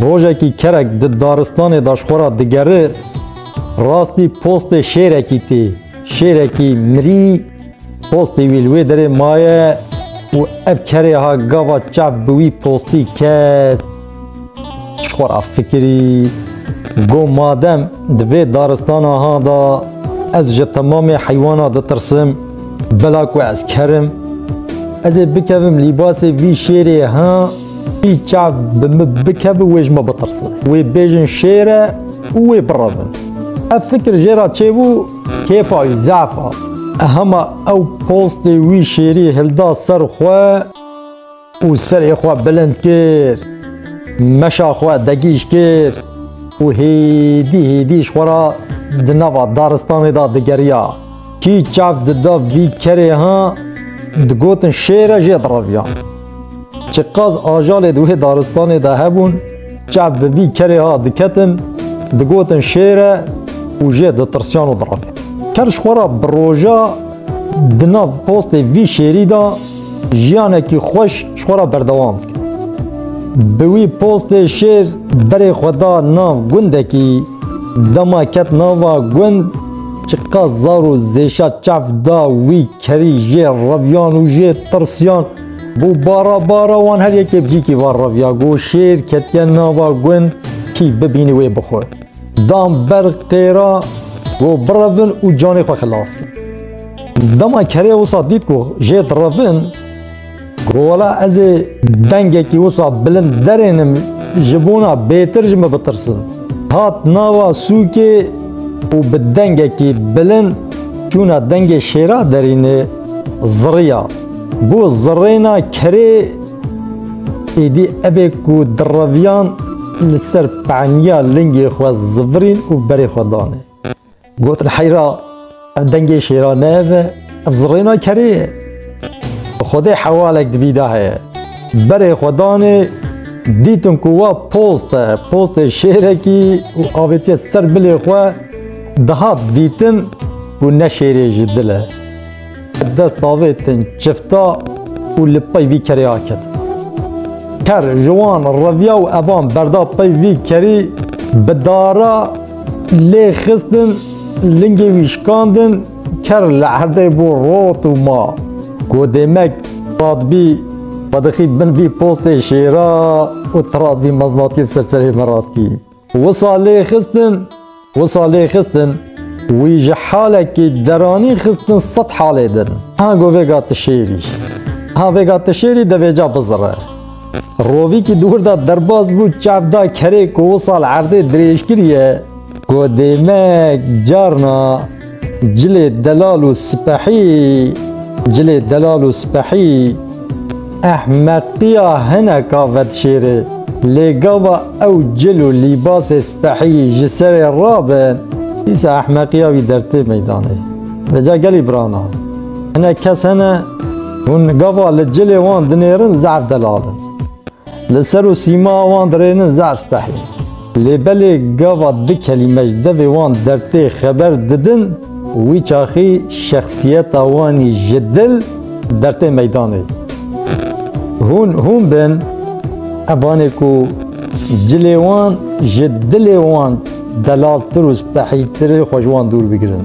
Rojekî kerek di daristanê de ji xwe re digere, rastî postê şêrekî tê. Şêrekî mirî postê wî li wê derê maye û ev kerê ha gava çav bi wî postî ket. Ji xwe re fikirî, Got madem di vê daristana ha de ez ji temamê heywana ditirsim, Bela ku ez kerim ez ê bikevim lîbasê vî şêrê ha vî çav bi min bikevi wê ji me bitirsin. Wê bêjin şêr e û wê birevin. Ev fikir jê re çêbû kêfa wî zaf hat. Hema ew postê wî şêrî hilda ser xwe. û serê xwe bilind kir, meşa xwe degîj kir û hêdî hêdî ji xwe re di nava daristanê de digeriya. Kî çav dida vî kerê ha, digotin şêr e jê direviyan. Çi qas ajalê di wê daristanê de hebûn, çav bi vî kerê ha diketin, digotin şêr e û jê ditirsiyan û direvin. Ker ji xwe re bi roja di nav postê vî şêrî de Jiyanekî xweş ji xwe re berdewam bike. Bi wî postê şêr berê xwe da nav gundekî. Dema ket nava gund çiqas zar û zêşa çav da wî kerî jê reviyan û jê tirsiyan. Bû bara bara wan her yekê bi cîkî va reviya. Got şêr ketiye nava gund kî bibînî wê bixwe. Dan ber qêra ku birevin û canê xwe xilas kin. Dema kerê wisa dît ku jê direvin, ku wela ez ê dengekî wisa bilind derênim ji bona bêtir ji min bitirsin. Hat nava sûkê û bi dengekî bilind çûna dengê şêra derînê ziriya. Bû zirêna kerê. Êdî ev ê ku di reviyan li ser peniya lingê xwe zivirîn û berê xwe danê. Gotin heyra ev dengê şêra ne ev e, ev zirêna kerê ye. Bi xwedê hewalek di vî de heye. Berê xwe danê, dîtin ku wa post e, postê şêrekî û avêtiye ser bilê xwe, dihat dîtin ku ne şêrê ji dil e. Dest davêtin çifta û li pey vî kerê aket. Ker ji wan reviya û evan berda pey vî kerî bi dara lê xistin lingê wî şikandin ker li erdê bû rot û ma ku dêmek radbî xwedixî bin vî postê şêra û tiradbî meznatî ser serê min radkî. Wisa lê xistin, wisa lê xistin, wî ji halekî deranî xistin sed halê din. Ha go vêga ti şêrî. Ha vêga ti şêrî devêca bizire. Rovîkî di wir de derbas bû çav da kerê ku wisa li erdê dirêj kiriye ku dêmek carna Cilê delal û sipehî Cilê delal û sipehî ehmeqiya hineka vedişêrê. Lê gava ew cil û lîbasê sipehî ji serê rabin, dîsa ehmeqiya wî dertê meydanê. Vê ca gelî birana. Hinek kes hene hûn gava li cilê wan dinêrin zaf delal in. Li ser û sîma wan dirênin zaf sipehî. Lê belê gava di kelîme ji devê wan dertê xeber didin, wî çaxî şexsiyeta wanî ji dil dertê meydanê. Hûn hûn bin, evanê ku cilê wan ji dilê wan delaltir û spehîtir e xwe ji wan dûr bigirin.